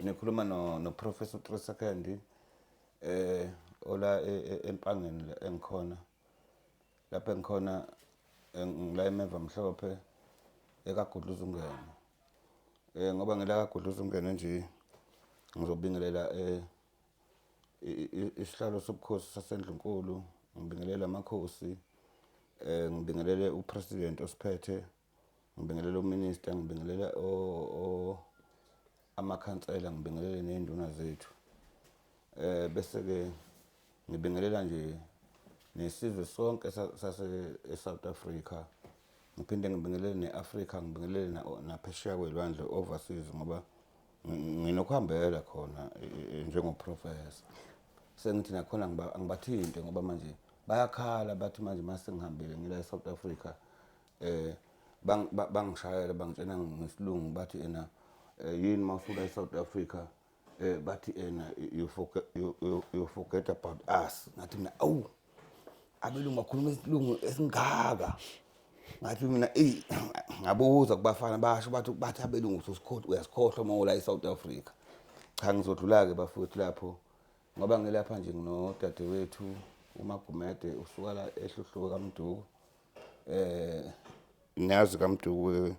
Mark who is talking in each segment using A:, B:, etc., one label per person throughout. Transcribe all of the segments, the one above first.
A: Ngikhuluma no no Professor Trisa Kandi eh ola e, e, empangeni engikhona lapha engikhona ngila emeva mhlophe ekagudluza ungena eh ngoba ngila kagudluza ungena nje ngizobingelela eh isihlalo sobukhosi sasendlunkulu ngibingelela amakhosi eh ngibingelele upresident osiphethe ngibingelela uminista ngibingelela amakhansela ngibingelele ney'nduna zethu um bese-ke ngibingelela nje nesizwe sonke sase-south africa ngiphinde ngibingelele ne-afrika ngibingelele naphesheya kwey'lwandle overseas ngoba nginokuhambela khona e, e, e, njengoprofesa sengithi nakhona angibathinte ngoba manje bayakhala bathi manje uma sengihambile ngila e-south africa eh bangishayela bangitshena ngesilungu bathi ena eh, yini mawufika eSouth Africa eh bathi ena you forget you, you, you forget about us ngathi mina awu abelungu bakhuluma isilungu esingaka ngathi mina ey ngabuza kubafana basho bathi bathi abelungu ususikhohlwa uyasikhohlwa uma ula eSouth Africa cha ngizodlula ke bafowethu lapho ngoba ngilapha nje nginodadewethu umagumede usuka la ehluhluko kamduku eh ngiyazi kaMduku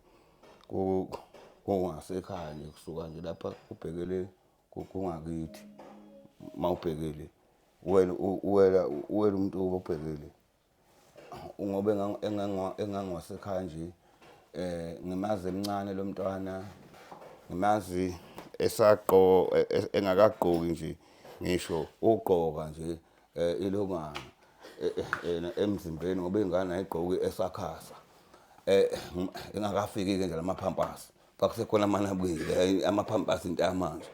A: kungasekhaya nje kusuka nje lapha ubhekele kungakithi mawubhekele wena uwela uwela umuntu obhekele ngoba engangiwasekhaya nje eh ngimazi emncane lo mntwana ngimazi esaqo e, e, engakagqoki nje ngisho ugqoka nje eh ilongana eh, eh, yena emzimbeni ngoba ingane ayigqoki esakhasa eh engakafiki ke nje lamapampasi kwakusekhona amanabukile eh, amapampasi into yamanje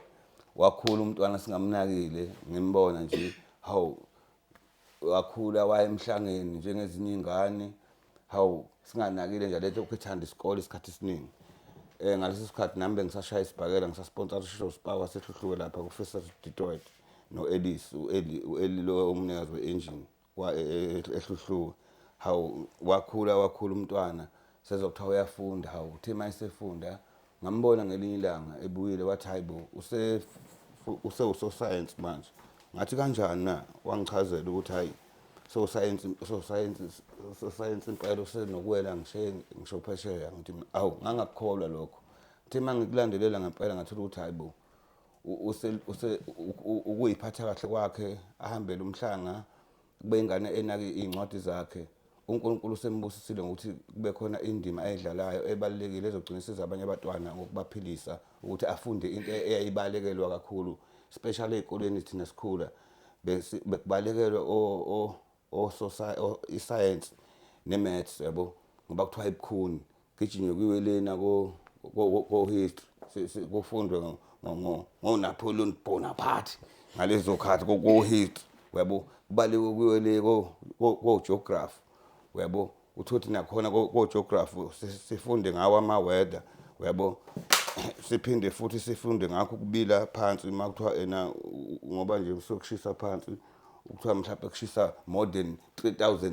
A: wakhula umntwana singamnakile ngimbona nje hawu wakhula wayemhlangeni njengezinye ingane hawu singanakile nje lethe ukhethanda isikole isikhathi esiningi um eh, ngaleso sikhathi nami bengisashaya isibhakela ngisasponsa sisho sipakwa sehluhluke lapha kufisa detroit no-elis u-eli lo umnikazi we-engine e, e, e, ehluhluke hawu wakhula wakhula umntwana sezokuthiwa uyafunda hawu uthe uma esefunda Ngambona ngelinye ilanga ebuyile wathi hayi bo usewusosayensi manje ngathi kanjani na wangichazela ukuthi hhayi sosayensi sosayensi sosayensi impela usenokuwela ngisheni ngisho phesheya ngithi awu ngangakukholwa lokho ngithe uma ngikulandelela ngempela ngathola ukuthi hhayi bo ukuyiphatha kahle kwakhe ahambele umhlanga Kube ingane enake iy'ncwadi zakhe. UNkulunkulu usembusisile ngokuthi kube khona indima ayidlalayo ebalulekile ezogcina isiza abanye abatwana ngokubaphilisa ukuthi afunde into eyayibalekelwa kakhulu especially ey'koleni thina sikhula bekubalekelwe isayensi ne-maths yabo ngoba kuthiwa ibukhuni Gijinywe kwiwelena ko-history kufundwe ngonapoleon bonaparte ngalezo khathi ko-history uyabo kubaliwe kuyole ko-geography uyabo uthi ukuthi nakhona ko-geography sifunde ngawo ama-weather uyabo siphinde futhi sifunde ngakho ukubila phansi uma kuthiwa ena ngoba nje kusuke kushisa phansi kuthiwa mhlawumbe kushisa more than 3000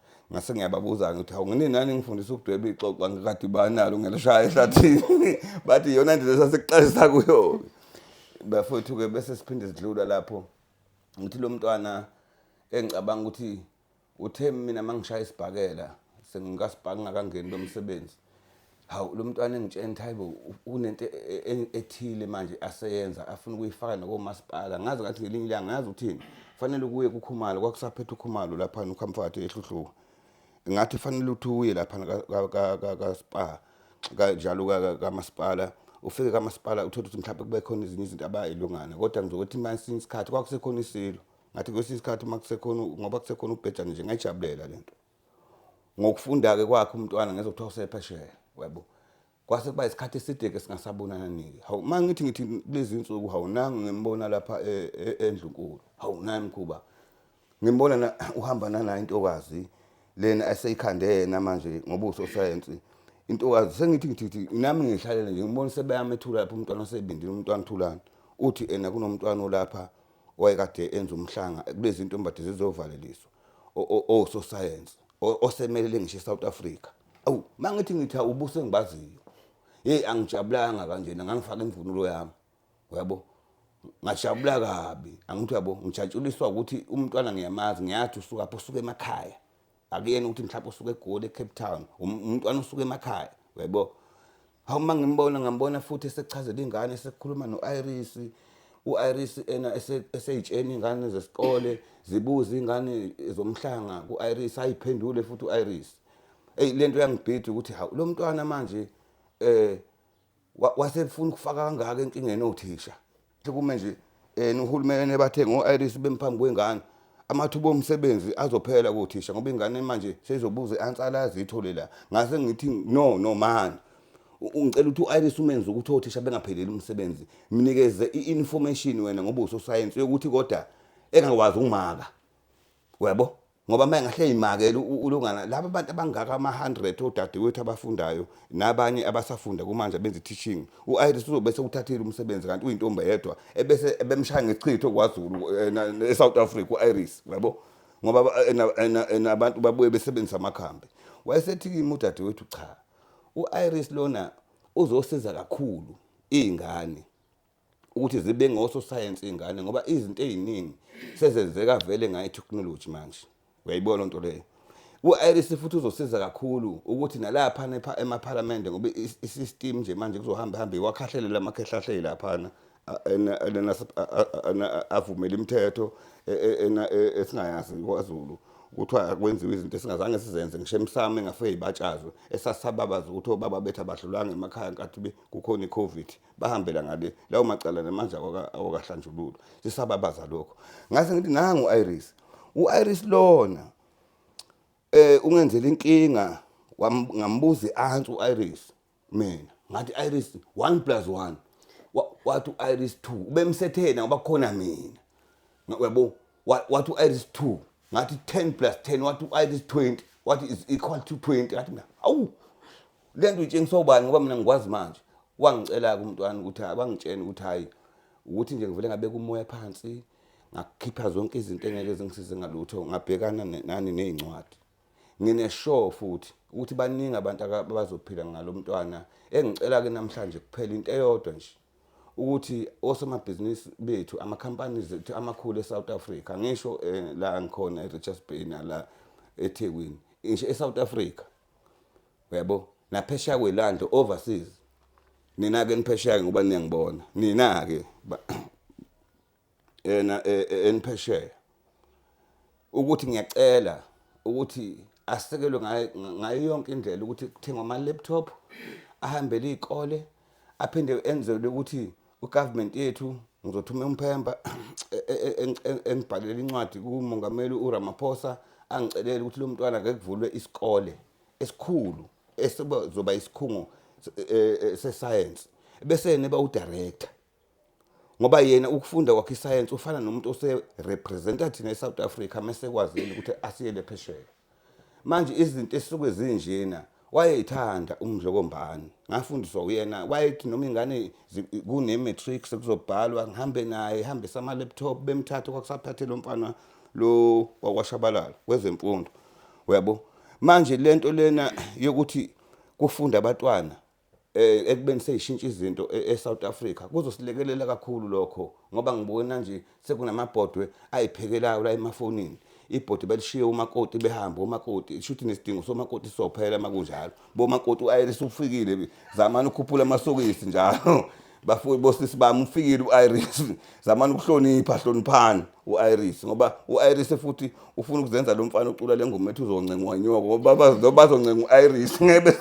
A: ngase ngiyababuza-ke ukuthi hawu ngini nani ngifundisa ukudweba ixoxo angikade banalo ngelishaya ehlathini bathi iyona ndlela sasikuxazisa kuyo-ke bafowethu-ke bese siphinde sidlula lapho ngithi lo mntwana engicabanga ukuthi uthe mina uma ngishaya isibhakela sengikasibhaka ngakangeni lomsebenzi hawu lo mntwana engitshena ukuthi hayibo kunento e, e, e, ethile manje aseyenza afuna ukuyifaka nakomasipala ngazi ngathi ngelinye ilanga ngazi ukuthini fanele kuye kukhumalo kwakusaphethe ukhumalo laphana ukhamfathi ehluhluka ngathi fanele ukuthi uye laphana kaspa kanjalo kamasipala ufike kamasipala uthole ukuthi mhlawumbe kube khona ezinye izinto abayilungana kodwa ngizokuthi uma esinye isikhathi kwakusekhona isilo ngathi kwesinye isikhathi uma kusekhona ngoba kusekhona ubhejane nje ngayijabulela le nto ngokufunda-ke kwakhe umntwana ngezwa kuthiwa usephesheya yabo kwase kuba isikhathi eside-ke singasabonanani-ke hawu uma ngithi ngithi kulezi nsuku hawu nangu ngimbona lapha e, e, endlunkulu hawu naye mkhuba ngimbona na uhamba nanayo intokazi lena eseyikhande yena manje ngobuso sayensi intokazi sengithi ngithi ngithi nami ngihlalele nje ngibona sebeyamethula lapho umntwana osebindile umntwana uthulani uthi ena kunomntwana olapha owayekade enza umhlanga kulezi ntombade zizovaleliswa ososayensi osemelele ngisho i-south africa awu uma ngithi ngithi awubuso engibaziyo yeyi angijabulanga kanjena ngangifake imvunulo yami uyabo ngajabula kabi angithi uyabo ngijatshuliswa ukuthi umntwana ngiyamazi ngiyathi usukaphi usuke emakhaya akuyena ukuthi mhlawumbe usuke egoli ecape town um, umntwana usuke emakhaya uyayibona hawu uma ngimbona ngambona futhi esechazela ingane esekhuluma no-iris u-iris ena eseyitsheni ingane zesikole zibuze ingane zomhlanga ku-iris ayiphendule futhi u-iris eyi le nto yangibhida ukuthi hawu lo mntwana manje um wasefuna ukufaka kangaka enkingeni othisha kume nje um uhulumeni bathe ngo-iris bemphambi kwengane amathuba omsebenzi azophela kothisha ngoba ingane manje seyizobuza i-ansala yazithole la ngase ngithi no no mani ngicela ukuthi u-iris umenze ukuthi othisha bengapheleli umsebenzi mnikeze i-information wena ngoba usosayensi yokuthi kodwa engakwazi ukumaka uyabo ngoba uma engahle yimakele ulungana laba bantu abangaka ama-100 odadewethu abafundayo nabanye abasafunda kumanje benza i-teaching u-iris uzobe sewuthathile umsebenzi kanti uyintombi yedwa ebese ebemshaya ngechitho kwazulu eh, e-south africa u-iris yabo ngoba nabantu babuye besebenzisa amakhambi wayesethi kimi udadewethu cha u-iris lona uzosiza kakhulu iy'ngane ukuthi zibe ngososayensi iy'ngane ngoba izinto ey'ningi sezenzeka vele ngayo ithekhinoloji manje uyayibona loo nto leyo u-iris futhi uzosiza kakhulu ukuthi nalapha emaphalamende ngoba i-system nje manje kuzohamba hambe iwakhahlelela amakhehlahleli laphana avumela imithetho e, e, e, esingayazi kwazulu kuthiwa kwenziwa izinto esingazange sizenze ngisho emsamo engafike ibatshazwe esasababaza ukuthi obaba bethu abadlulanga emakhaya nkathi kukhona i-covid bahambela ngale lawo macala namanje awakahlanjululwa sisababaza lokho ngase ngithi nangu u-iris u-iris lona eh ungenzela inkinga ngambuza i-answer u-iris mina ngathi iris 1 plus 1 wathi u-iris 2 ubemsethena ngoba khona mina uyabo Wa- wathi u-iris 2 ngathi 10 plus 10 wathi u-iris 20 wathi is equal to 20 ngathi mina awu le nto itshengiswa ubani ngoba mina ngikwazi manje wangicela-ke umntwana ukuthi hhayi, wangitshena ukuthi hhayi ukuthi nje ngivele ngabeka umoya phansi ngakhipha zonke izinto engeke zingisize ngalutho ngabhekana ne- nani ney'ncwadi Ngine-sure futhi ukuthi baningi abantu abazophila ngalo mntwana. Engicela-ke namhlanje kuphela into eyodwa nje ukuthi osomabhizinisi bethu ama-companies ethu amakhulu e-South Africa ngisho eh, la ngikhona e-Richards Bay nala eThekwini ngisho e-South Africa uyabo naphesheya kwelande overseas nina-ke niphesheya-ke ngoba niyangibona nina-ke ena e- e- eniphesheya ukuthi ngiyacela ukuthi asekelwe ngayo- ngayo yonke indlela ukuthi kuthengwe ama-laptop ahambele iy'kole aphinde enzelwe ukuthi ugovernment yethu ngizothuma umphemba e- e- e- eng- eng- engibhalela incwadi kumongameli uramaphosa angicelele ukuthi lo mntwana ake kuvulwe isikole esikhulu esizoba isikhungo se- eh, eh, sesayensi bese niba udirector ngoba yena ukufunda kwakhe isayensi ufana nomuntu oserepresenta thina e-south africa mesekwazile ukuthi asiyele phesheya manje izinto esuke zinjena wayeyithanda umdlokombani ngafundiswa uyena wayethi noma ingane kune-matrix kuzobhalwa ngihambe naye hambisa ama-laptop bemthathe kwakusaphathe lo mfana lo wakwashabalala kwezemfundo uyabo manje lento lena yokuthi kufunda abatwana eh ekubeni seyishintsha izinto e, eSouth Africa kuzosilekelela kakhulu lokho ngoba ngibona nje sekunamabhodwe ayiphekelayo la emafonini ibhodi belishiye umakoti behambe umakoti shuthi nesidingo somakoti sophela makunjalo bomakoti ayelisa ufikile zamani ukhuphula amasokisi njalo bafowethu bosisi bami ufikile u-iris zamani ukuhlonipha hloniphani u-iris ngoba u-iris futhi ufuna ukuzenza lo mfana ocula le ngoma ethi uzoncengwa nyoko ngoba bazoncenga u-iris ngebe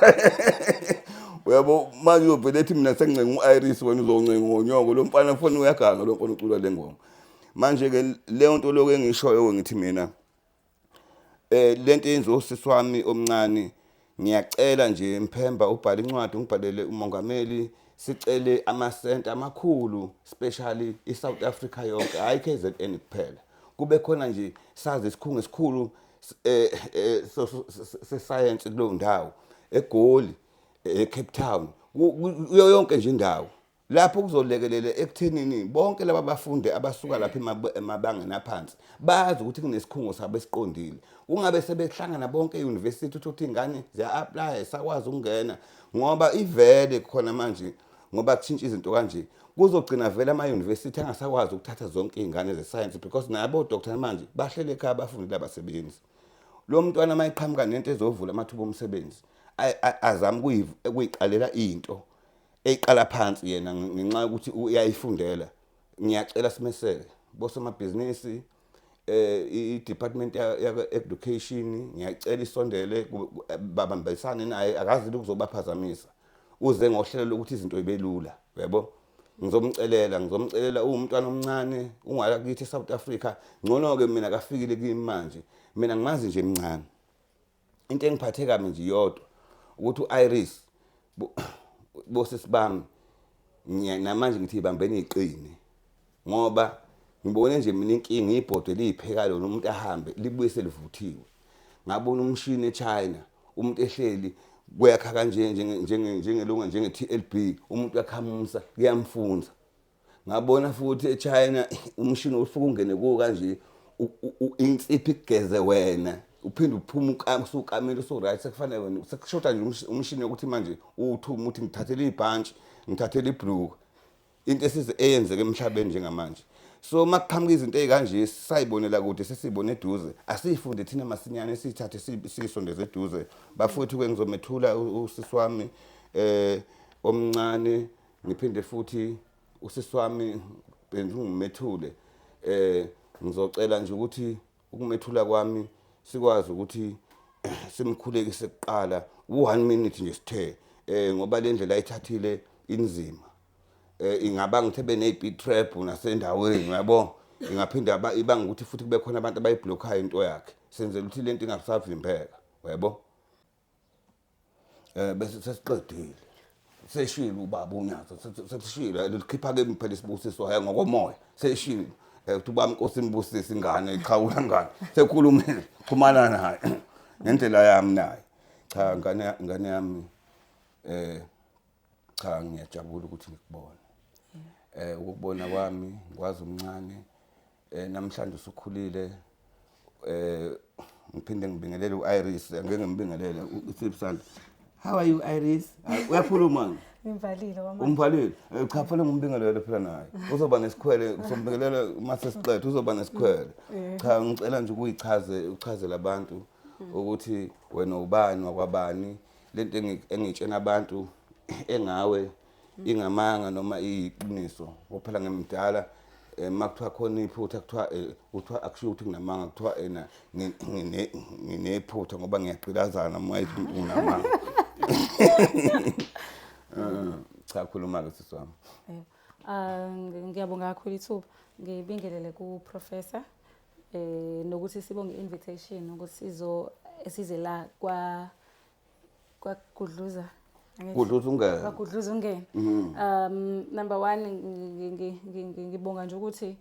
A: uyabo manje uyovele ethi mina sengincenga u-iris wena uzoncenga ngonyoko lo mfana foni uyaganga lo mfana ucula le ngoma manje-ke leyo nto lokhu engishoyo-ke ngithi mina eh lento yenziwa usisi wami omncane ngiyacela nje mphemba ubhale incwadi ungibhalele umongameli sicele amasenta amakhulu especially i-south africa yonke hhayi kzn kuphela kube khona nje sazi isikhungo esikhulu eh, eh, sesayensi kuleyo ndawo egoli ecape eh, town kuyo yonke nje indawo lapho kuzolekelela ekuthenini bonke laba bafundi abasuka lapha emabangeni aphansi bazi ukuthi kunesikhungo sabo esiqondile kungabe sebehlangana bonke e-university uthi ukuthi ingane ziya-aplya sakwazi ukungena ngoba ivele khona manje ngoba kushintsha izinto kanje kuzogcina vele ama-university angasakwazi ukuthatha zonke iy'ngane zesayensi because nabo doctor manje bahlele ekhaya abafundi labasebenzi lo mntwana uma eqhamuka nento ezovula amathuba omsebenzi azame ukuyiqalela into eyiqala phansi yena ngenxa yokuthi uyayifundela ngiyacela simeseke bosomabhizinisi eh i-department ya-education ngiyacela isondele babambisane naye akazi ukuzobaphazamisa uze ngohlelo lokuthi izinto ibelula yabo ngizomcelela ngizomcelela uwumntwana omncane ungala kithi e-south africa ngcono-ke mina kafikile kimi manje mina ngimazi nje mncane into engiphathe kabi nje iyodwa ukuthi u-iris bosisi bami namanje ngithi ibambeni iqine ngoba ngibone nje mina inkinga ibhodwe liyipheka lona umuntu ahambe libuye selivuthiwe ngabona umshini echina umuntu ehleli kuyakha kanje njengelunga njenge-tlb umuntu uyakhamusa kuyamfunza ngabona futhi echina umshini osuke ungene kuwo kanje insiphi kugeze wena uphinde uphume usukamile usu-right sekufanele wena sekushoda nje umshini yokuthi manje uwuthuma uthi ngithathele ibhantshi ngithathele ibhluku into esize eyenzeka emhlabeni njengamanje so uma kuqhamuka izinto ey'kanje sisayibonela kude sesiyibone eduze asiyifunde thina masinyane siyithathe siyisondeze eduze bafowethu-ke ngizomethula usisi wami um omncane ngiphinde futhi usisi wami benza ungimethule eh ngizocela nje ukuthi ukumethula kwami sikwazi ukuthi simkhulekise kuqala u1 minute nje sithe eh ngoba le ndlela ayithathile inzima eh ingaba ngithe benezipit trap nasendaweni yabo ingaphinda ibanga ukuthi futhi kube khona abantu abayiblockhayo into yakhe senzela ukuthi lento ingasavimbeka yabo Eh bese sesiqedile. Seshilo ubaba uNyazi sesishilo and ukhipha ke phela isibusiso hayi ngokomoya. Seshilo. Eh uthi ubaba inkosi imbusise ingane iqhawula ngane. Sekhulumile xhumana naye ngendlela yami naye. Cha ngane ngane yami eh cha ngiyajabula ukuthi ngikubone eh ukubona kwami ngikwazi umncane eh namhlanje usukhulile eh ngiphinde ngibingelele uIris ngeke ngimbingelele uSipsanda how are you Iris uyakhuluma Ngimvalile
B: wamanje. Umvalile. Eh, cha phela
A: ngumbingelele phela naye. Uzoba nesikhwele uzombingelela uma sesiqedwe uzoba nesikhwele. Eh. Cha ngicela nje ukuyichaze uchaze labantu ukuthi wena ubani wakwabani lento engitshena abantu engawe ingamanga noma iyiqiniso ngophela ngimdala eh, uma kuthiwa khona iphutha kuthiwa eh, kuthiwa akushiwo ukuthi nginamanga kuthiwa ena nginephutha ngoba ngiyaqilazana uma ithi nginamanga eh, cha khuluma-ke sisi wami ah, ngiyabonga
B: kakhulu ithuba ngibingelele kuprofessor eh nokuthi sibonge invitation ukuthi sizo size la kwa kwagudluza gudluza ungene kwagudluza ungene mm-hmm. um number 1 ngibonga nje ukuthi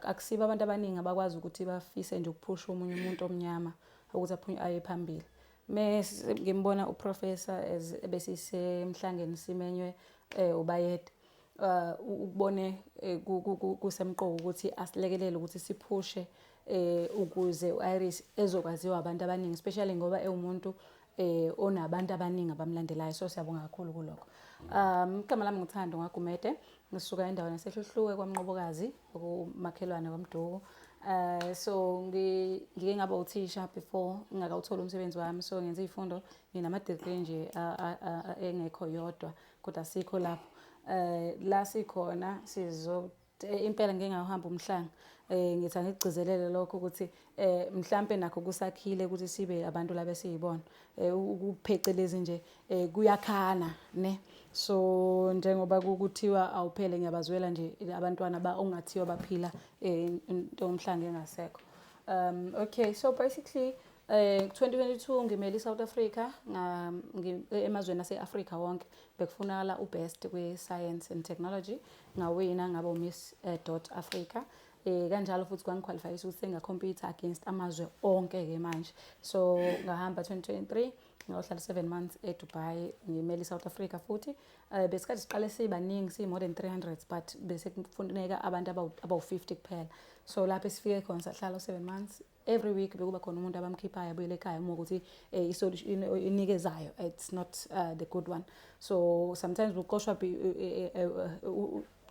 B: akusiba abantu abaningi abakwazi ukuthi bafise nje ukuphusha umunye umuntu omnyama ukuthi aphunywe aye phambili mese ngimbona uprofessor besisemhlangeni simenywe eh ubayede uh, ukubone eh, kusemqoka ukuthi asilekelele ukuthi siphushe eh ukuze uIris ezokwaziwa abantu abaningi especially ngoba ewumuntu eh onabantu abaningi abamlandelayo so siyabonga kakhulu kuloko um igama lami ngithando ngagumede ngisuka endaweni yasehluhluwe kwamnqobokazi okumakhelwane kwamduku Uh, so ngike ngaba uthisha before ngingakawutholi umsebenzi wami so ngenza izifundo nginama degree nje engekho yodwa kodwa sikho lapho eh la sikhona sizo eh, impela ngeke ngahamba umhlanga eh ngithi angigcizelele lokho ukuthi eh mhlambe nakho kusakhile ukuthi sibe abantu labe siyibona eh ukuphecelezi nje eh kuyakhana ne so njengoba kuthiwa awuphele ngiyabazwela nje abantwana ba ongathiwa baphila eh into omhlange engasekho um okay so basically Eh 2022 ngimele iSouth Africa nga ngi- e- emazweni ase-Africa wonke bekufunakala ubest kwi-science and technology ngawina ngaba uMiss eh, dot Africa eh kanjalo futhi kwangiqualifyisa ukuthi sengakhompyutha against amazwe onke ke manje so ngahamba 2023 ngayohlala 7 months eDubai ngimele iSouth Africa futhi eh besikade siqale sibaningi si more than 300 but bese kufuneka abantu abawu- abawu-50 kuphela so lapho esifike khona sahlala u-7 months every week bekuba khona umuntu abamkhiphayo abuyele ekhaya uma ukuthi eh, isolution inikezayo it's not uh, the good one so sometimes buqoshwa eh, eh,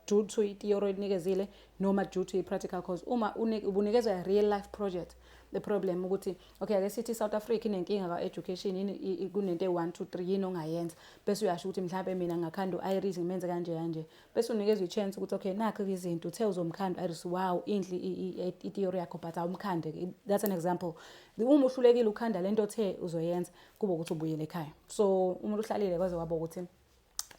B: due to i-theory inikezile noma due to i-practical cause uma ubunikezwa i-real life project the problem ukuthi okay ake sithi South Africa inenkinga ka education yini kunento e1 2 3 yini ongayenza bese uyasho ukuthi mhlawumbe mina ngakhanda uIris ngimenze kanje kanje bese unikezwa i-chance ukuthi okay nakho-ke izinto uthe uzomkhanda iris wow inhle ithiyori yakho but awumkhande-ke that's an example uma uhlulekile ukhanda le nto othe uzoyenza kube ukuthi ubuyele ekhaya so umuntu uhlalile kwaze waba ukuthi um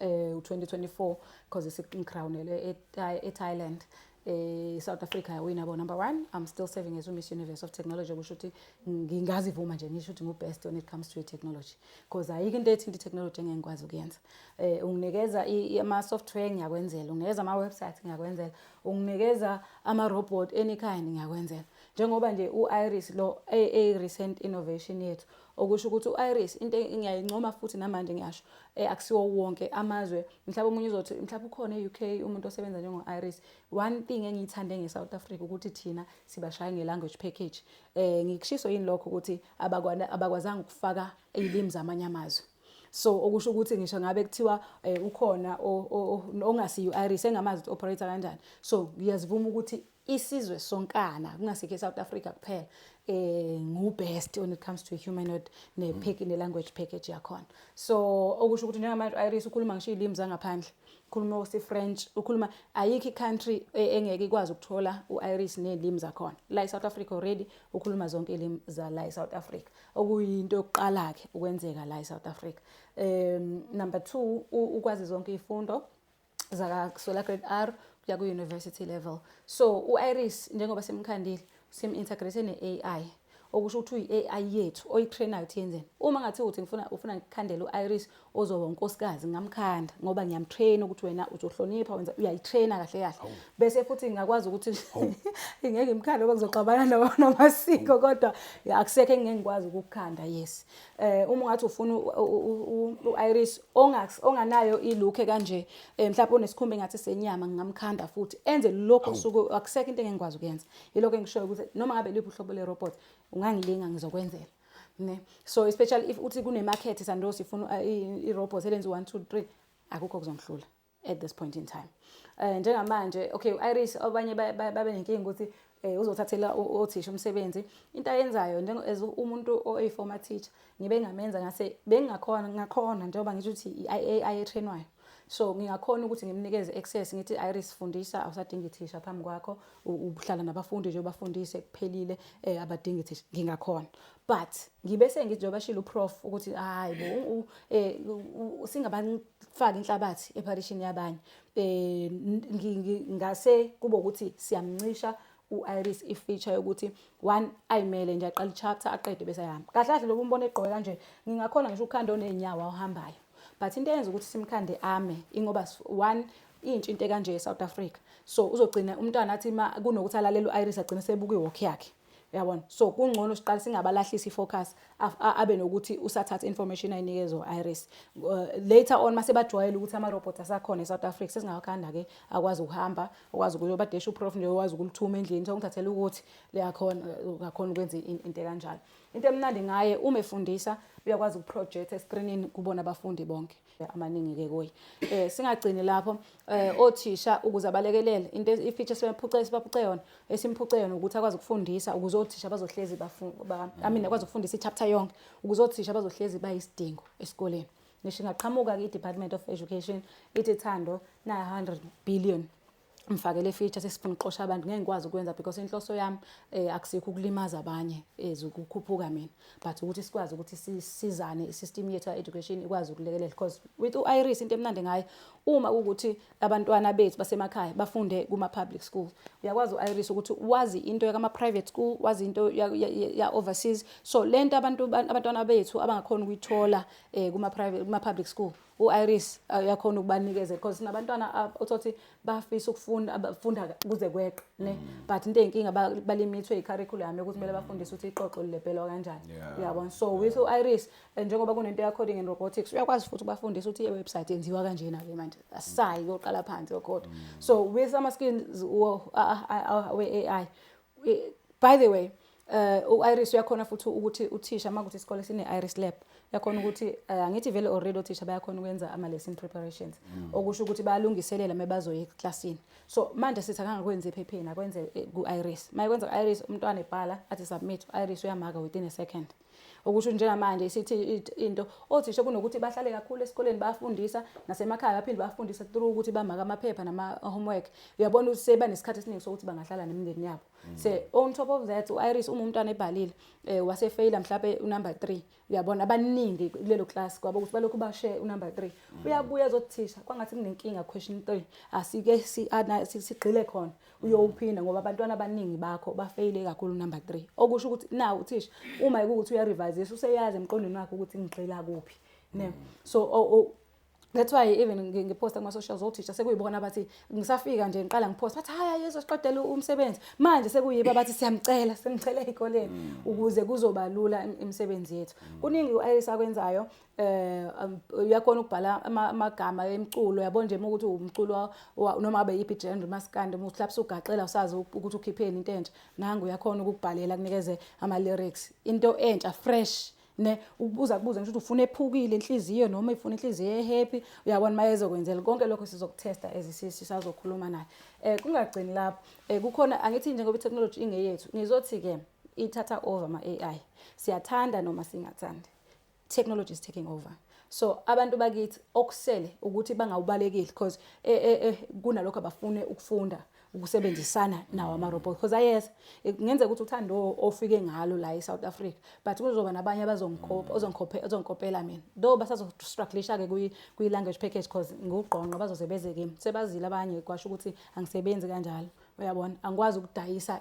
B: eh, u-2024 because isincrownele e-thailand e eh South Africa yawina bo number 1 I'm still serving as Miss Universe of Technology kusho ukuthi ngingazivuma nje ngisho ukuthi ngu best when it comes to technology because ayike into ethinta technology engengikwazi ukuyenza eh unginikeza ama software ngiyakwenzela unginikeza ama website ngiyakwenzela unginikeza ama robot any kind ngiyakwenzela njengoba nje uIris lo a recent innovation yethu okusho ukuthi u-iris into ngiyayincoma futhi namanje ngiyasho um akusiwo wonke amazwe mhlawumbe omunye uzothi mhlawumbe ukhona e-u k umuntu osebenza njengo-iris one thing engiyithande nge-south africa ukuthi thina sibashaya nge-language package um ngikushiso yini lokho ukuthi abakwazanga ukufaka iy'limi zamanye amazwe so okusho ukuthi ngisho ngabe kuthiwa um ukhona ongasiyi-iris engamazi ukuthi operator kanjani so ngiyazivuma ukuthi isizwe sonkana kungasikho eSouth Africa kuphela eh ngu best when it comes to humanoid ne mm. pack ne language package yakhona so okusho ukuthi njengamanje Iris ukhuluma ngisho ilimi zangaphandle ukhuluma usi French ukhuluma ayikho country e, engeke ikwazi ukuthola uIris nelimi zakhona la eSouth Africa already ukhuluma zonke ilimi za la eSouth Africa okuyinto yokuqala ke ukwenzeka la eSouth Africa um number 2 ukwazi zonke ifundo zakasola grade r kuya ku-university level so u-iris njengoba simkhandile sim-integrate ne-ai okusho ukuthi uyi-ai yethu oyitrainayo ukuthi yenzeni uma ngathi uthi ngifuna ufuna ngikhandele u-iris ozoba unkosikazi ngingamkhanda ngoba ngiyamtraina ukuthi wena uzohlonipha wenza uyayitraina kahle kahle bese futhi ngingakwazi ukuthi ngeke ngimkhande ngoba kuzoxabana namasiko kodwa akusekho engingeke ngikwazi ukukukhanda yes eh uma ungathi ufuna uIris ongax onganayo ilook kanje eh, mhlawumbe unesikhumba engathi senyama ngingamkhanda futhi enze lokho suku akusekho into engikwazi ukuyenza yilokho engishoyo ukuthi noma ngabe liphi uhlobo le robot ungangilinga ngizokwenzela ne so especially if uthi kune market sandosi ifuna eh, i robot elenza 1 2 3 akukho kuzongihlula at this point in time um njengamanje okay u-iris abanye babe nenkinga ukuthi um uzothathela othisha umsebenzi into ayenzayo as umuntu oyi-former teacher ngibe ngamenza ngase bengingakhona ngakhona njengoba ngisho ukuthi i-ai etrainwayo so ngingakhona ukuthi ngimnikeze access ngithi iris fundisa awusadingi thisha phambi kwakho uhlala nabafundi nje ubafundise kuphelile um abadingi thisha ngingakhona but ngibe sengithi njengoba shilo uprof ukuthi hhayi bo um singabantu faka inhlabathi epharishini yabanye eh ngase kube ukuthi siyamncisha u-iris i-feature yokuthi one ayimele nje aqala i-chapter aqede bese ayahamba kahle kahle lokhu umbona egqoke kanje ngingakhona ngisho ukhanda oney'nyawo awuhambayo but into eyenza ukuthi simkhande ame ingoba one intsha into ekanje e-south africa so uzogcina umntwana athi kunokuthi alalele u-iris agcine sebuka iwokhi yakhe Uyabona? So kungcono siqale singabalahlisi ifocus abe nokuthi usathatha information ayinikezwe iris. Uh, later on mase bajwayele ukuthi ama robots asakhona eSouth Africa sesingawakhanda ke akwazi ukuhamba, okwazi ukuthi badesha uprof nje okwazi ukulithuma endlini sokuthathela ukuthi leyakhona ngakhona ukwenza into kanjalo. Into emnandi ngaye uma efundisa uyakwazi ukuproject escreenini kubona abafundi bonke. amaningi-ke kuye um singagcini lapho um othisha ukuze abalekelele into ifitsha esibaphuce yona esimphuce yona ukuthi akwazi ukufundisa ukuze othisha bazohlezi amine akwazi ukufundisa i-chapter yonke ukuze othisha bazohlezi bayisidingo esikoleni ngisho ingaqhamuka-ke i-department of education ithi thando na-hundred billion ngifake le feature sesifuna uxosha abantu ngeke ngikwazi ukwenza because inhloso yami eh, akusikho ukulimaza abanye ezwe eh, ukukhuphuka mina but ukuthi sikwazi ukuthi sisizane isystem yethu education ikwazi ukulekelela because with uIris into emnandi ngayo uma ukuthi abantwana bethu basemakhaya bafunde kuma public school uyakwazi uIris ukuthi wazi into yakama private school wazi into ya, ya, ya overseas so lento abantu abantwana bethu abangakhona ukuyithola eh, kuma private kuma public school u-iris uyakhona uh, ukubanikeza because sinabantwana uh, uthothi bafisa ukufunda abafunda kuze kweqe ne mm. but into eyinkinga balimithwe i-curriculum yokuthi kumele bafundise ukuthi ixoxo lilebhelwa kanjani uyabona so with u-iris eh, njengoba kunento ya-coding and robotics uyakwazi futhi ubafundise ukuthi i-website yenziwa kanjena-ke manje asayi koqala phansi yogoda mm. so with ama-skills we-a i by the way eh uh, uIris uyakhona futhi ukuthi uthisha makuthi isikole sine Iris lab yakhona ukuthi eh, angithi vele already othisha bayakhona ukwenza ama lesson preparations mm. okusho ukuthi bayalungiselela mebazoya eclassini so manje sithi akangakwenzi ephepheni akwenze eh, ku Iris mayekwenza ku Iris umntwana ebhala athi submit Iris uyamaka within a second Okusho njengamanje isithi into othisha kunokuthi bahlale kakhulu esikoleni bafundisa nasemakhaya baphinde bafundisa through ukuthi bamaka amaphepha nama homework uyabona ukuthi seba nesikhathi esiningi sokuthi bangahlala nemindeni yabo mm. so on top of that uIris uma umntwana ebhalile eh, wase fail mhlape unumber 3 uyabona abaningi kulelo class kwabo ukuthi balokhu bashe unumber 3 mm. uyabuya ezothisha kwangathi kunenkinga question 3 asike sigqile khona uyowuphinda ngoba abantwana abaningi bakho bafeyile kakhulu number 3 okusho ukuthi na uthisha uma ekuthi uyarevise useyazi emqondweni wakhe ukuthi ngigxila kuphi ne so oh, oh, That's why even ngiposta kuma socials othisha sekuyibona abathi ngisafika nje ngiqala ngiposta bathi haya yeso siqedela umsebenzi manje sekuyiba abathi siyamcela simcela ezikoleni mm. ukuze kuzoba lula imisebenzi yethu mm. kuningi uIris akwenzayo eh um, uyakhona ukubhala amagama emculo yabo nje ukuthi umculo noma abe yipi genre maskande uhlapsa ugaxela usazi ukuthi ukhipheni into entsha nangu uyakhona ukubhalela kunikeze ama lyrics into entsha fresh ne ukubuza kubuza ngisho ukuthi ufuna ephukile inhliziyo noma ifuna inhliziyo ehappy uyabona mayezo kwenzela konke lokho sizokutesta ezisisi sazokhuluma naye eh kungagcini lapho eh kukhona angithi nje ngoba technology ingeyethu ngizothi ke ithatha over ama AI siyathanda noma singathandi technology is taking over so abantu bakithi okusele ukuthi bangawubalekile because e, e, e, kunalokho abafune ukufunda ukusebenzisana nawo ama-robot because ayeza kungenzeka ukuthi uthando ofike ngalo la e-south africa but kuzoba nabanye abazongikopela mina though basazostrugglisha-ke kwi-language package because ngugqonqo bazoze beze kimi sebazile abanye kwasho ukuthi angisebenzi kanjalo uyabona angikwazi ukudayisa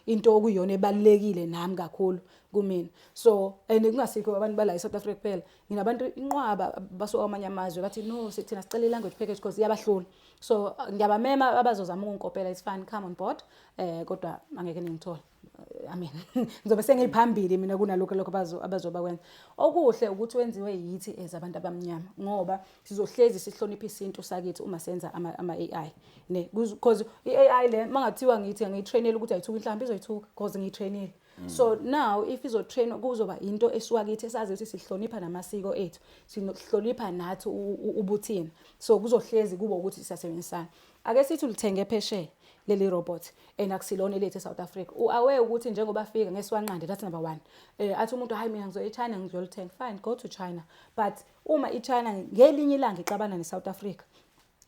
B: into okuyona ebalulekile nami kakhulu kumina so and kungasikho abantu bala eSouth Africa kuphela nginabantu inqwaba basuka kwamanye amazwe bathi no sithina sicela language package because iyabahlula so ngiyabamema abazozama ukungikopela it's fine come on board eh kodwa angeke ningithole I mean ngizobe sengiphambili mina kunalokho lokho abazoba kwenza okuhle ukuthi wenziwe yithi as abantu abamnyama ngoba sizohlezi sihlonipha isintu sakithi uma senza ama, ama AI ne because i AI le mangathiwa ngithi ngiyitrainela ukuthi ayithuka inhlamba izoyithuka because ngiyitrainile Mm. so now if izotrainwa kuzoba into esuka kithi esazi ukuthi sihlonipha namasiko ethu sihlonipha nathi ubuthina so kuzohlezi kubo ukuthi sisasebenzisana ake sithi ulithenge phesheya leli robot and akusilona elethu eSouth Africa uaware ukuthi njengoba fika ngesiwanqande that's number 1 eh athi umuntu hayi mina ngizoya eChina ngizolithenga fine go to China but uma iChina ngelinye ilanga ixabana neSouth Africa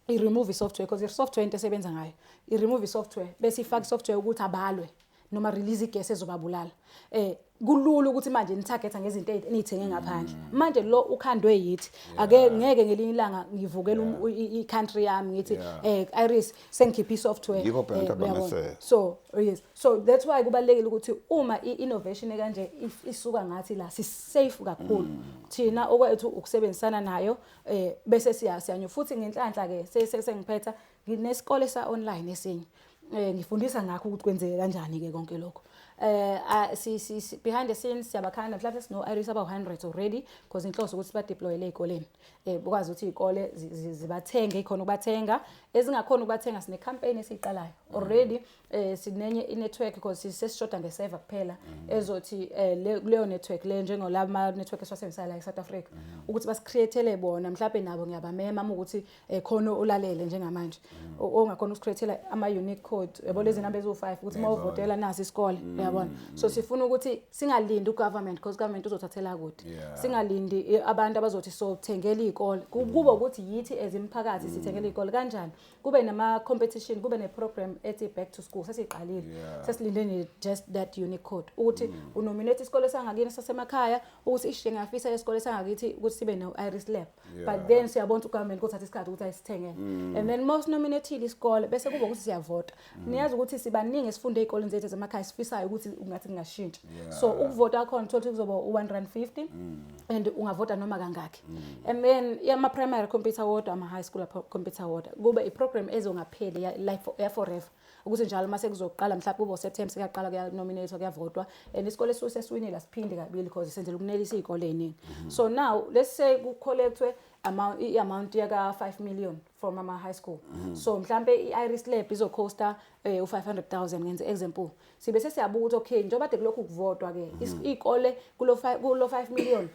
B: i-remove software because i-software into esebenza ngayo i-remove software bese ifaka software ukuthi abalwe noma release igesi ezobabulala eh kulula ukuthi manje nithagetha ngezinto enithenge ngaphandle mm. manje lo ukhandwe yithi ake ngeke ngelinye ilanga ngivukela um, i-country yami ngithi eh Iris sengikhipha i-software yikho phela eh, abamese so oh, yes so that's why kubalekile ukuthi uma i-innovation ekanje isuka ngathi la si-safe kakhulu mm. thina okwethu ukusebenzisana nayo eh bese siya siyanyo futhi ngenhlanhla ke sengiphetha nginesikole sa online esinye eh ngifundisa ngakho ukuthi kwenzeke kanjani ke konke lokho eh si si behind the scenes siyabakhanda mhlawumbe sino iris aba 100 already because inhloso ukuthi ba deploy le ikoleni eh bukwazi ukuthi ikole zibathenge ikhona ukubathenga ezingakhona ukubathenga sine campaign esiqalayo already eh sinenye inetwork because sesishoda ngeseva kuphela mm. ezothi eh leyo network le njengolama network esiwasebenzisa la eSouth Africa mm. ukuthi basicreatele bona mhlawumbe nabo ngiyabamema uma ukuthi eh, khona olalele njengamanje mm. ongakhona usichithela ama unique code yabo lezi number eziwu5 ukuthi uma uvotela nasi isikole uyabona so sifuna ukuthi singalindi ugovernment because government uzothathela kude singalindi eh, abantu abazothi so thengela izikole kubo ukuthi yithi ezimphakathi sithengela izikole kanjani kube nama competition kube ne program ethi back to school sesiqalile yeah. sesilinde nje just that unique code ukuthi mm. unominate isikole sangakini sasemakhaya ukuthi ishe ngafisa isikole sangakithi ukuthi sibe no iris lab yeah. but then siyabona ukuthi government kuthatha isikhathi ukuthi ayisithengele mm. and then most nominated isikole bese kuba ukuthi siyavota Mm. niyazi ukuthi sibaningi esifunde ey'koleni zethu zamakhaya sifisayo ukuthi ungathi kungashintsha so ukuvota kwakhona uthole ukuthi kuzoba u-one rand fifty mm. and ungavota noma kangakhi mm. and then yama-primary computer wodwa ama-high school computer wodwa kube i-program ezongapheli ya-forever ukuthi njalo uma sekuzoqala mhlawumbe kube useptember sekuyaqala kuyanominatwa kuyavotwa and isikole esuke sesiwinile asiphinde kabili because senzela ukunelisa iy'kole ey'ningi mm-hmm. so now let's say kukholekthwe i-amount yaka-five million from ama high school mm. so mhlambe i-iris lab izocosta eh, u-500000 ngenze example sibe sesiyabuka ukuthi okay njengoba de kulokhu kuvotwa-ke mm. iy'kole kulo 5 million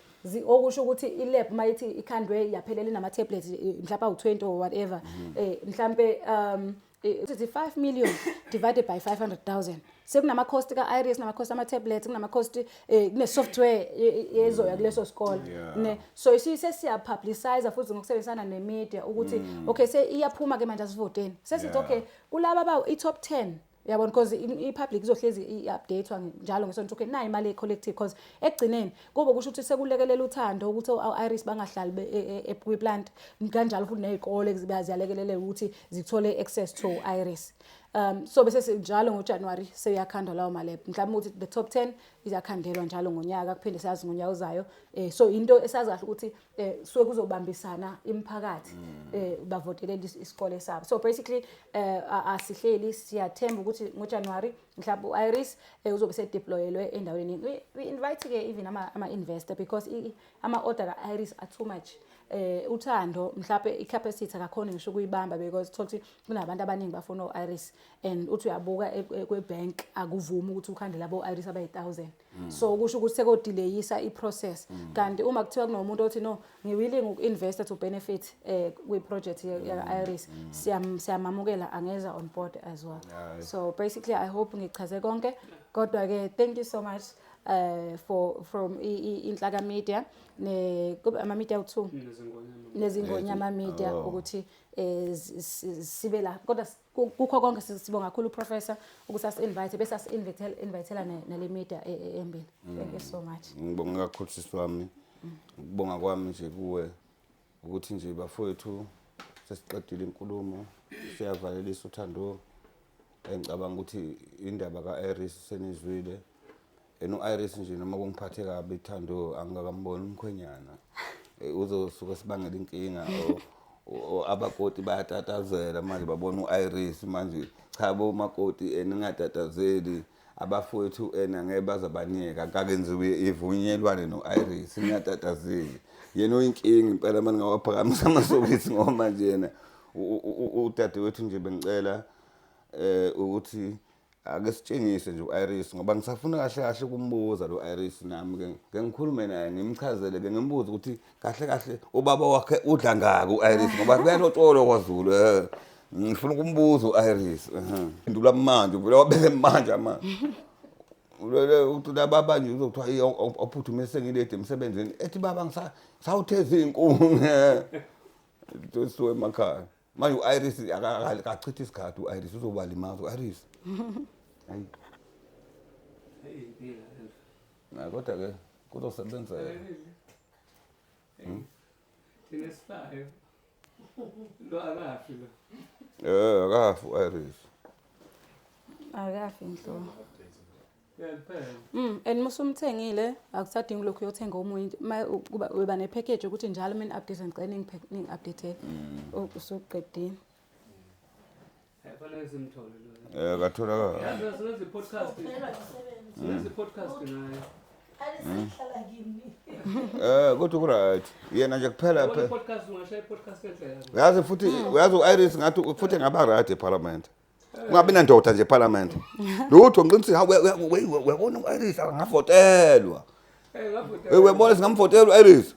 B: okusho ukuthi ilab uma ithi ikhandwe yaphelela inama-tablets eh, mhlawumbe awu-20 or whatever um mhlampe um sithi 5 million divided by 500,000 sekunama cost ka iris nama cost ama tablets kunama cost eh, kune software ezoya kuleso sikole ne so isise siya publicize futhi ngokusebenzisana ne media ukuthi mm. okay se iyaphuma ke manje asivoteni sesithi okay kulaba ba i top 10 yabona because i-public izohlezi i-updatewa njalo ngesonto ukuthi nayi imali e-collective because ekugcineni Kobe kusho ukuthi sekulekelela uthando ukuthi o-iris bangahlali e, e, e, kwi-plant kanjalo futhi ney'kole ziyalekeleleka ukuthi zithole access to iris um so bese njalo ngojanuwari seyakhandwa lawo malebhu mhlawumbe ukuthi the top ten iyakhandelwa njalo ngonyaka kuphinde siyazi ngonyaka uzayo um so into esazi kahle ukuthi um suke kuzobambisana imiphakathi um bavotelele isikole sabo so basically um asihleli siyathemba ukuthi ngojanuwari mhlawumbe u-iris um uzobe sedeployelwe endaweni eningi we invite-ke even ama-investor because ama-order ka-iris are too much eh uthando mhlawumbe i-capacity akakhona ngisho ukuyibamba because thola ukuthi kunabantu abaningi bafuna o-iris and uthi uyabuka e-, e-, kwe-bank akuvumi ukuthi ukhande labo-iris abayi-thousand Mm. so kusho ukuthi sekodileyisa i-process mm. kanti uma kuthiwa kunomuntu othi no ngiwilling uku-investa to benefit um kwi-project mm. yaka-iris siyamamukela angeza on board as well so basically i hope ngichaze konke kodwa-ke thank you so much uh, for from inhlaka media ne ama media uthu nezingonyama media oh. ukuthi eh, sibe la kodwa Ku- kukho konke si- sibonga kakhulu uprofessor ukuthi asi-invite bese asi-invitela nale media e- e- embili thank you so much ngibonga kakhulu sisi
A: wami ukubonga kwami nje kuwe ukuthi nje bafowethu sesiqedile inkulumo siyavalelisa uthando engicabanga ukuthi indaba ka-iris senizwile yena u-iris nje noma kungiphathe kabi thando angikakamboni umkhwenyana Eh, uzosuke sibangela inkinga o- o- o- abakoti bayatatazela manje babona u-iris manje cha bomakoti and ningatatazeli abafowethu and angeke baze baniyeka kakenziwe ivunyelwane no-iris ningatatazeli yena uyinkinga impela uma ningawaphakamisa amasokisi ngoba manje yena u- u- u- udadewethu nje bengicela eh ukuthi Ake sitshengise nje u-Iris ngoba ngisafuna kahle kahle ukumbuza lo Iris nami ke ngeke ngikhulume naye ngimchazele ke ngimbuze ukuthi kahle kahle ubaba wakhe udla ngaki u-Iris ngoba kuyalotsholwa kwaZulu eh ngifuna ukumbuza u-Iris ndula manje vele wabeke manje manje ulele ukuthi lababa nje uzokuthiwa ophuthume sengilede emsebenzini ethi baba ngisawutheza iy'nkuni eh, siwe emakhaya manje u-iris akachithi isikhathi u-iris uzobalimaza u-iris hayi hayi kodwa-ke kuzosebenzeka hmm?
C: thina sifayo lo akafi lo um akafi u-iris
A: akafi
B: nhlobo Mm,
C: and musu umthengile
B: akusadingi lokhu uyothenga omunye kuba uba nepackage ukuthi njalo mina update ngicela ningi update mm. usuqedile Yafanele simthole lo.
C: Eh katholakala. Yazi senze podcast.
D: Senze podcast naye. Alisahlala
A: kimi. Eh kodwa ku right. Yena nje kuphela phela. Podcast ungashaya
C: podcast enhle yazi. Yazi futhi uyazi
A: u-Iris ngathi futhi ngaba right eParliament. Mm. ungabi nandoda nje parliament lutho ngiqinisile hawu uyabona u-iris angavotelwa
C: Eh, uyabona singamvotela
A: u-iris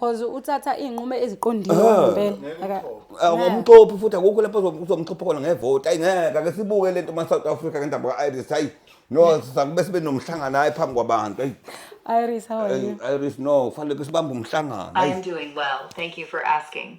A: cause uthatha
B: iy'nqumo eziqondile Ah. ngempela Aka- awumxophi
A: futhi akukho lapho uzo- uzomxopha khona ngevoti ayi ngeke ake sibuke le nto ma-south africa ngendaba ka-iris hayi no sakube sibe nomhlangano hayi phambi kwabantu ayi iris how
B: are you Hey, Iris, no, kufanele ke
A: sibambe umhlangano. I Hey, am doing well.
E: Thank you for asking.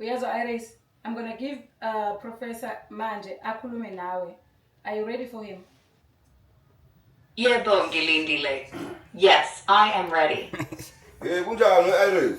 B: uyazo iris i'm gonna give uh, professor manje akhulume nawe are you ready for him yebo
E: ngilindile yes i am ready um kunjani
A: iris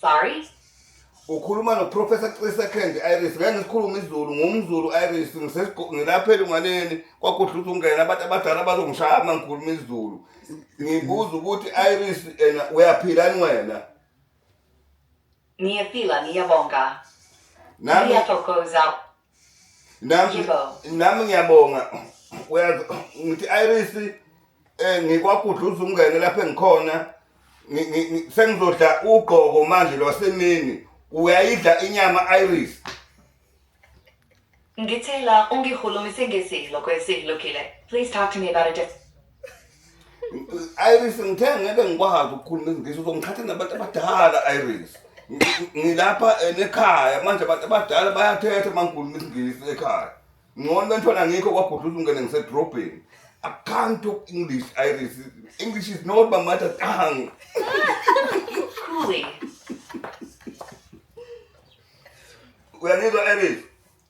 E: Sorry?
A: ukhuluma noprofessor cisecond iris ngeke ngisikhulume izulu ngumzulu iris ngisesigo- ngilapha elunganeni kwakudla ukuthi ungena abantu abadala bazongishaya uma ngikhuluma izulu ngibuza ukuthi iris ena uyaphilani wena
E: Niyaphila, niyabonga. nami
A: Niyathokoza.
E: Nami
A: nami ngiyabonga uyazi ngithi Iris eh ngikwagudluza umngene lapha engikhona sengizodla ugqoko manje lwasemini uyayidla inyama Iris
E: Ngithela ungihulumise ngesidlo kwesidlukile. Please talk to me about a different Iris
A: ngithe ngeke ngikwazi ukukhuluma izingisi uzongithatha nabantu abadala Iris. Ngi- Ngilapha eh, nekhaya manje abantu abadala bayathetha uma ngikhuluma isingisi ekhaya. Ngcono bentwana ngikho kwagudluza ungene ngisedrobheni. I can't talk English Iris. English is not my mother tongue. Uyangizwa Iris?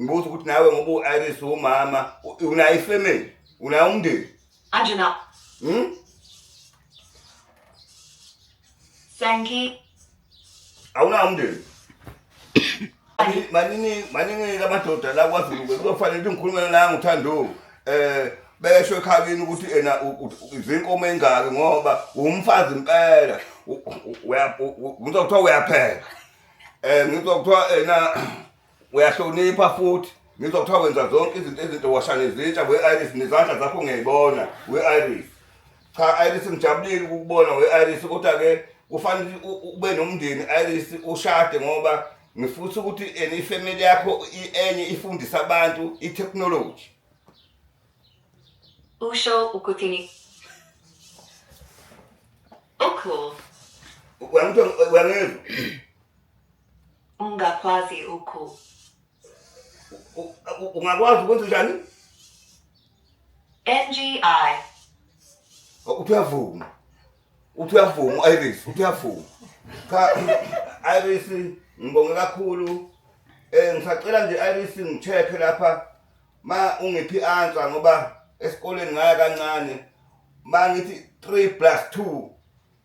A: ngibuza ukuthi nawe ngoba u-iris umama unayo ifamily unayo umndeni anje na
E: hmm? sanki
A: awunayo umndeni maningi maningi lamadoda la kwazulu kuzofanele ukuthi ngikhulume la ngithando um eh, besho ekhabini ukuthi ena izinkomo engaki ngoba umfazi impela ngizokuthiwa uyapheka um ngizokuthiwa ena uyahlonipha futhi ngizwa kuthiwa wenza zonke izinto ezinto washane zintsha we-iris nezandla zakho ngiyayibona we-iris cha iris ngijabulile ukukubona we-iris kodwa-ke kufanele ube nomndeni iris ushade ngoba ngifutha ukuthi and ifamily yakho enye ifundisa abantu i-technology
E: usho ukuthi
A: ocool uyangizwa
E: Ungakwazi
A: ukhu. Ungakwazi ukwenza njani?
E: NGI. Uthi uyavuma.
A: Uthi uyavuma Iris, uthi uyavuma. Cha Iris ngibonge kakhulu. Eh ngisacela nje Iris ngicheke lapha ma ungiphi answer ngoba esikoleni ngaya kancane. Ma ngithi 3 plus 2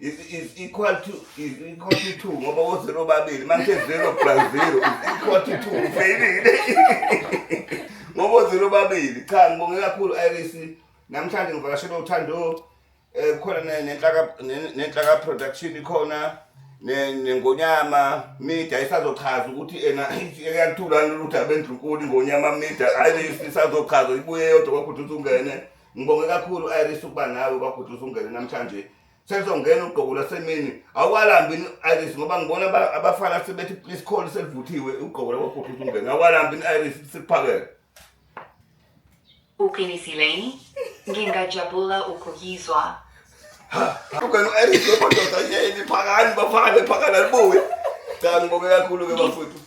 A: is, is equal to is equal to 2 ngoba wo 0 babili manje 0 plus 0 is equal to 2 ufeyilile ngoba wo 0 babili cha ngibonge kakhulu Iris namhlanje ngivakashela uthando eh khona nenhlaka nenhlaka production ikhona nengonyama media isazochaza ukuthi ena iyathula lolu daba endlunkulu ingonyama media ayi isazochaza ibuye yodwa kwakuthi usungene Ngibonge kakhulu Iris ukuba nawe kwakuthi usungene namhlanje. Sesongena ugqoko lasemini. Awukalambi ni Iris ngoba ngibona aba- abafana sebethi please call selivuthiwe ugqoko lakwakuthi usungene. Awukalambi ni Iris sikuphakele.
E: Uqinisileni? Ngingajabula ukuyizwa.
A: Ugwenu Iris lokho ndoda yini phakani bafana phakana libuye. Cha ngibonge kakhulu ke bafuthu.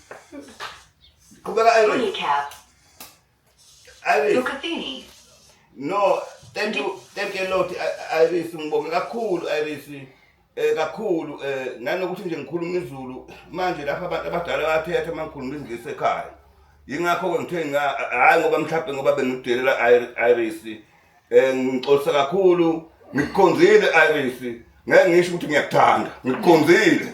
A: Qhubeka Iris. Recap. Iris. Ukhathini.
E: No,
A: thank you, thank you a lot I- Iris ngibonge kakhulu Iris. Eh kakhulu eh nanokuthi nje ngikhuluma izulu manje lapha abantu abadala bayathetha uma ngikhuluma izingisi ekhaya. Yingakho ke ngithe nga hayi ngoba mhlawumbe ngoba bengidelela I- Iris. Eh ngixolisa kakhulu ngikukhonzile Iris. Ngeke ngisho ukuthi ngiyakuthanda. Ngikukhonzile.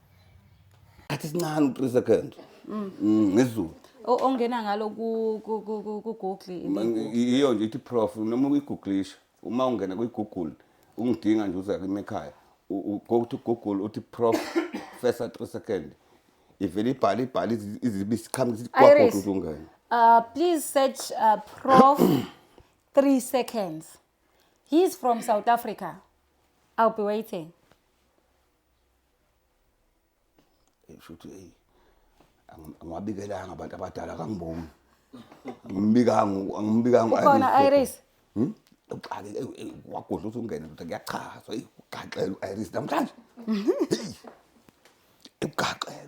A: athi sincane u-three second mm. mm, ngezulu ongena
B: ngalo kugoogle yiyo
A: nje ithi prof noma uyiguglisha uma ungena kwigoogle ungidinga nje uza kimi ekhaya go to google uthi prof first three second ivele ibhale ibhale izibe isiqhamuka sithi kwagoda uthi ungena uh, please
B: search uh, prof three seconds he's from south africa i'll be waiting
A: Shuthi hey angiwabikelanga abantu abadala kangibongi. Ngimbikanga angimbikanga ukhona Iris.
B: Hmm? Uqale
A: eh, eh, wagodla uthi ungene ndoda kuyachaza hey ugaxela uIris namhlanje. Hey. Ugaxela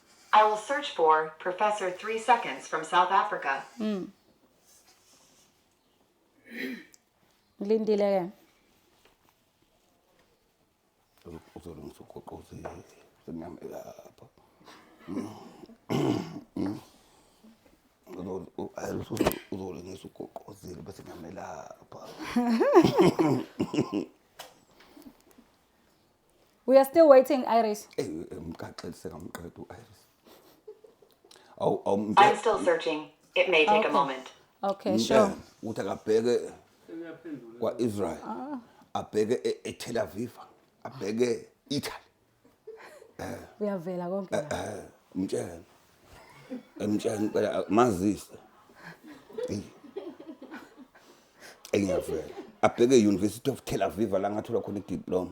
E: I will search for Professor Three Seconds from South Africa. Mm.
B: Ngilindile ke. Uzolungisa ugoqoze senyama lapha. uzolengisa ugoqozile bese ngiyamelapha We are still waiting Iris. Eh, eh, Mkaxel sekamqeda u-Iris.
E: Awu awu I'm mthe- still searching. It may take Okay. a moment. Okay, mthe sure.
B: ukuthi akabheke
A: kwa-Israel. Ah. Abheke e- e-Tel Aviv. Abheke Italy. Uyavela
B: konke la. Eh, Mtshele.
A: Emtshela impela mazise. Engiyavela. Abheke e-University of Tel Aviv la ngathola khona idiploma.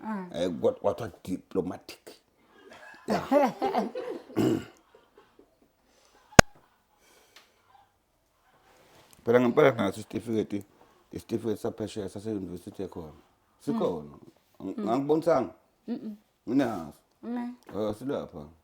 A: Ah. Eh kwathiwa diplomatic. Phela ngempela naso isitifiketi isitifiketi saphesheya sase-university ekhona. Sikhona. Mm. Ngangibonisa nginaso. Silapha.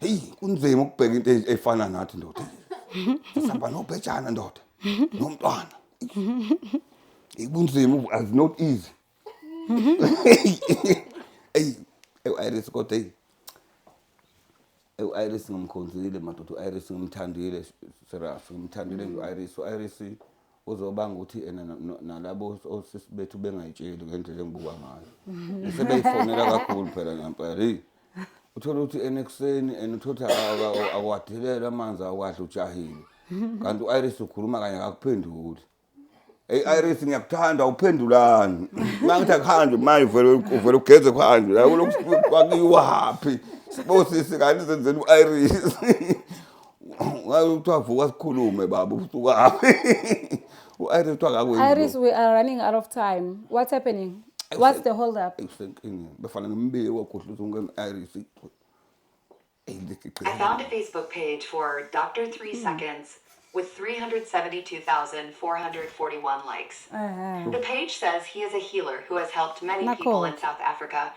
A: heyi kunzima ukubheka into e- efana nathi ndoda sihamba nobhejana ndoda nomntwana Eyi, kunzima ubu- as not easy eyi ewu-iris kodwa eyi ewu-iris ngimkhonzile madoda u-iris ngimthandile serious ngimthandile nje u-iris u-iris uzobanga ukuthi ena na- na- nalabo os- osisi bethu bengayitsheli ngendlela engibuka ngayo sebeyifonela kakhulu phela ngempela eyi uthole ukuthi ena ekuseni and uthole ukuthi aka- aka- awadelele amanzi awadla ujahile kanti u-iris ukhuluma kanye akakuphenduli eyi iris ngiyakuthanda uphendulani uma ngithi akuhanjwe manje uvele uvele ugeze kuhanjwe la kulokhu kwakiwaphi sibosisi kanti zenzeni u-iris Ngayo kuthiwa vuka sikhulume baba usukapi. U-Iris kuthiwa ngakwenza. Iris we are running
B: out of time. What's happening? What's the hold up? Ngisenkingeni. Befana
A: ngimbike kwagudluza umkami Iris.
E: I found a Facebook page for Dr. 3 hmm. Seconds with 372,441 likes. Uh-huh. The page says he is a healer who has helped many people in South Africa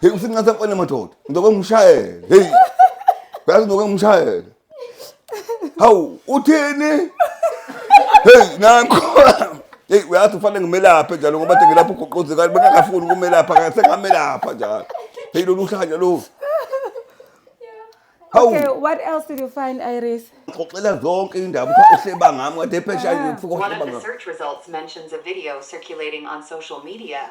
A: Hey usithi ngathi mfana madoda. Ngizokwe ngishayele. Hey. Yazi ngizokwe ngishayele. Hawu uthini? Hey nanko. Hey uyathi ufanele ngimelaphe njalo ngoba nje ngilapho uguquzi kanti bengakafuni ukumelapha kanti sengamelapha njalo. Hey lolu uhlanya lo.
B: Hawu. Okay, what else did you find, Iris? Xoxela zonke
A: indaba uthi uhleba ngami kade phesha nje ufika One of uhleba the ngami. search results
E: mentions a video circulating on social media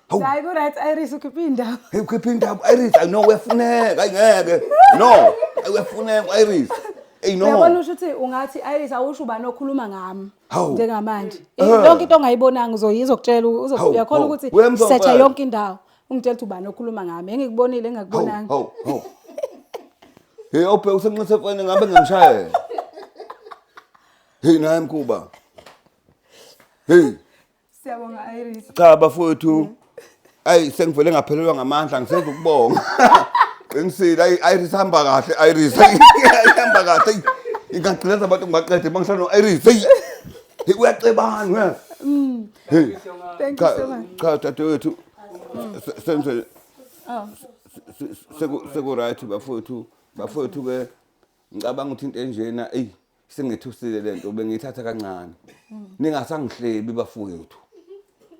A: Hawu. Hayi
B: ku right Iris ukhiphe indaba. Hey, ukhiphe indaba
A: iris ayi no uyafuneka ayi ngeke no ayi uyafuneka u-iris eyi no Uyabona usho ukuthi ungathi
B: Iris awusho ubani okhuluma ngami Hawu. njengamanje.
A: Eh.
B: I- Yonke into ongayibonanga uzoyiza ukutshela uzo- Hawu, uyakhona hawu. ukuthi Uyamzwa setha
A: mfana. yonke indawo. Ungitshela
B: ukuthi ubani okhuluma ngami. Engikubonile hawu engakubonanga.
A: hawu hawu hey ophe usenxise fone ngabe ngamshayela hey naye mkhuba hey
B: Siyabonga Iris. Cha bafowethu.
A: Ayi sengivele ngaphelelwa ngamandla ngisenza ukubonga. Qinisile ayi Iris hamba kahle Iris. Hamba kahle. Ingagcileza abantu ngibaqede bangihlala no Iris. Hey. Hey uyacebana uyazi. Mm. Hey. Thank you so much.
B: Cha dadewethu.
A: Se- Senze Oh. seku seku right bafowethu. Bafowethu ke ngicabanga ukuthi into enjena eyi singithusile le nto bengiyithatha kancane ningasangihlebi bafowethu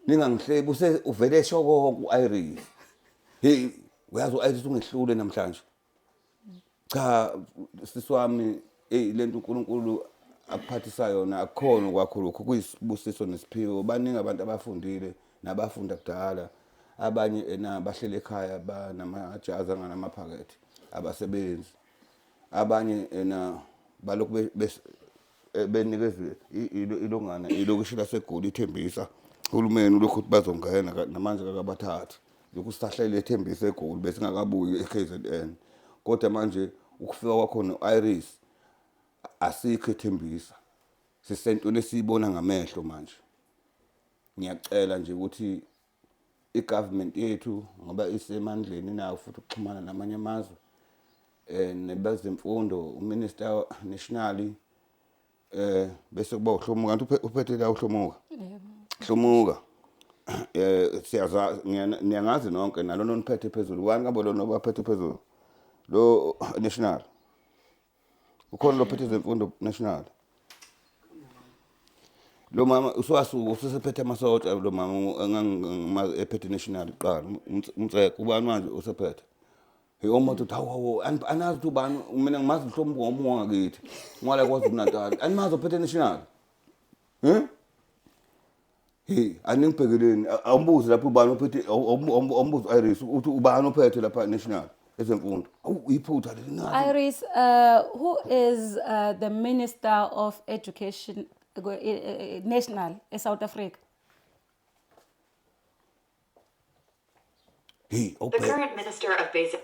A: ningangihlebi use uvele esho konke u-iris heyi uyazi u-iris ungehlule namhlanje cha sisi wami eyi le nto unkulunkulu akuphathisa yona akukhona okwakho lokhu kuyisibusiso nesiphiwo baningi abantu abafundile nabafunda kudala abanye ena bahlele ekhaya banamajazi anganamaphakethe abasebenzi Abanye ena balokhu eh, benikezwe ilongana ilokishi laseGoli ithembisa uhulumeni ulokhu ukuthi bazongena namanje kakabathathi lokhu sisahlele ethembisa eGoli besingakabuyi eKZN kodwa manje ukufika kwakhona u-Iris asikho ethembisa sisentweni esiyibona ngamehlo manje ngiyacela nje ukuthi i-government yethu ngoba isemandleni inawo futhi ukuxhumana namanye amazwe eh nebazemfundo uminister nationally eh bese kuba uhlomuka kanti uphethe la uhlomuka hlomuka eh siyaza niyangazi nonke nalona oniphethe phezulu wani kabo lona obaphethe phezulu lo national ukhona lophethe zemfundo national lo mama uswasuka usesephethe amasosha lo mama engangimazi ephethe national kuqala umtseko ubani manje usephethe yomuntu uthi hawu anazi ukuthi ubani mina ngimazi mhlawumbe ngomunye wangakithi ngwala kwazi ukunatali animazi ophethe national um Hey, aningibhekeleni awumbuzi lapho ubani ophethe awumbuzi Iris uthi ubani ophethe lapha national ezemfundo. Awu iphutha leli ngathi. Iris,
B: uh, who is uh, the Minister of Education uh, eh, eh, National in South Africa?
A: Hey, The okay. current Minister
E: of Basic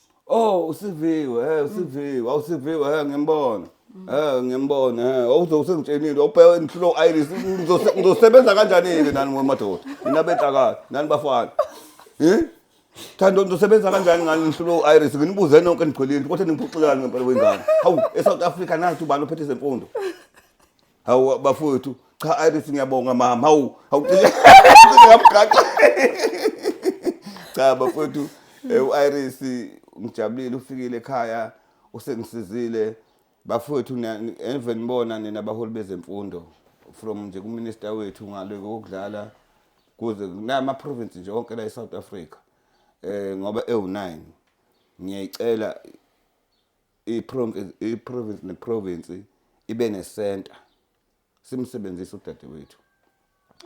B: oh
A: usiviwe he usiviwe awusiviwe he ngimbona he ngiyambona he awuzosengitshenile awubheke ngihlulo iris ngizose- ngizosebenza kanjani-ke nani wemadoda nina benhlakala nani bafana Eh? thando ngizosebenza kanjani ngani ngihlulo iris nginibuze nonke nigcwelile kodwa ningiphuxelani ngempela wengane hawu e-south africa nathi ubani ophethe zemfundo Hawu bafowethu, cha Iris ngiyabonga mama. Hawu, hawu ngamgaxa. Cha bafowethu, eh, u-Iris ngijabulile ufikile ekhaya usengisizile. Bafowethu niya- ni- eve nibona nina baholi bezemfundo from nje kuminister wethu ngale kokudlala kuze nama province nje onke la eSouth Africa. Eh ngoba ewu9 ngiyayicela iprovinsi neprovinsi ibe nesenta simsebenzise udadewethu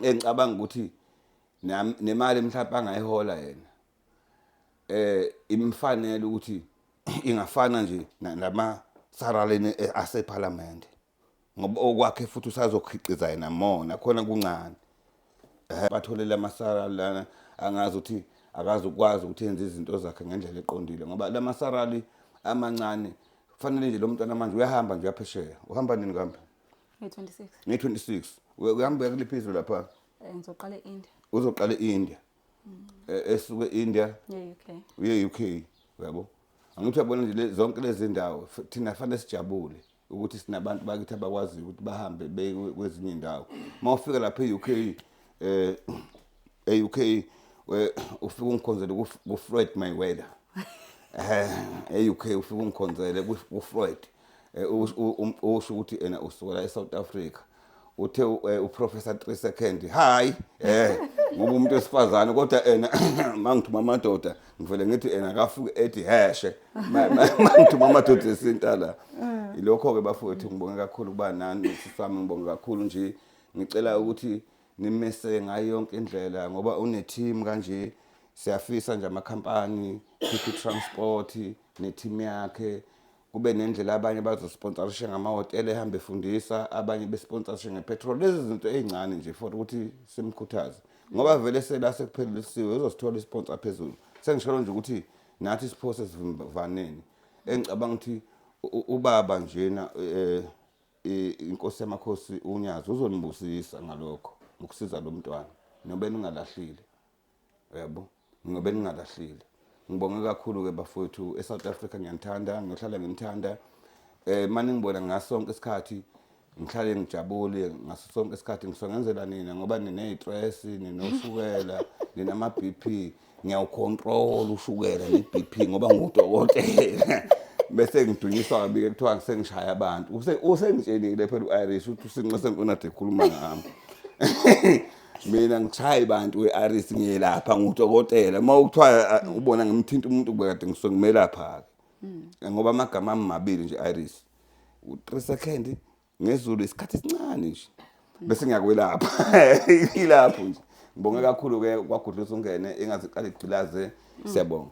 A: engicabanga ukuthi nemali mhlawumbe angayihola yena eh imfanele ukuthi ingafana nje lama saralini asephalamende ngoba okwakhe futhi usazokhiqiza yena more nakhona kuncane um batholele amasara lana angazi ukuthi akazi ukwazi ukuthi enze izinto zakhe ngendlela eqondile ngoba la masarali amancane kufanele nje lo mntwana manje uyahamba nje uyaphesheya uhamba nini kambe
B: nge-26 nge-26
A: uyahamba uya kuliphi izwe lapha eh, ngizoqala e-india
B: uzoqala e-india
A: mm. eh, esuke e-india uye-u
B: k
A: uyabo angithi uyabona nje zonke lezi ndawo thina fanele sijabule ukuthi sinabantu bakithi abakwaziyo ukuthi bahambe beye kwezinye indawo uma ufika lapha e-uk um eh, e-uk ufike ungikhonzele kufreud mayweather um e-uk ufike ungikhonzele kufreud eh, usho ukuthi ena usukela e-south africa uthe eh, uprofessor 3 second hayi eh ngoba umuntu wesifazane kodwa ena mangithuma amadoda ngivele ngithi ena akafuke ethi heshe mangithuma amadoda esinta la eh. ilokho ke bafowethu ngibonge kakhulu kuba nani sisami ngibonge kakhulu nje ngicela ukuthi nimese ngayo yonke indlela ngoba une team kanje siyafisa nje amakhampani City Transport ne team yakhe kube nendlela abanye bazosponsorishe ngamahhotela ehambe efundisa abanye besponsorishe ngepetrol lezi zinto ey'ncane nje for ukuthi simkhuthaze ngoba vele sela sekuphelelisiwe uzosithola isponsa phezulu sengisholo nje ukuthi nathi siphose sivimbaneni engicabanga ukuthi ubaba njena um inkosi yamakhosi unyazi uzonibusisa ngalokho ngokusiza lo mntwana nobe ningalahlile Yebo. Mina bengingalahlile. Ngibonge kakhulu ke bafowethu eSouth Africa ngiyanithanda, ngiyohlala nginithanda. Eh manje ngibona ngasonke isikhathi ngihlale ngijabule ngaso sonke isikhathi ngisongenzela nina ngoba nineyitress ninoshukela ninama BP ngiyawucontrol ushukela ne BP ngoba ngudokotela bese ngidunyiswa kabike kuthiwa ngisengishaya abantu usengitshenile phela u-irish ukuthi usinxese nkonade ekhuluma ngami mina ngishayi bantu we-aris ngiyelapha ngudokotela uma kuthiwa uh, ubona ngimthinta umuntu kubekade ngisuke ngimelapha-ke hmm. ngoba amagama ami mabili nje iris u-three second ngezulu isikhathi esincane nje hmm. bese ngiyakwelapha ilapho nje ngibonge kakhulu-ke kwagudlusa ungene ingaziqala igcilaze hmm. siyabonga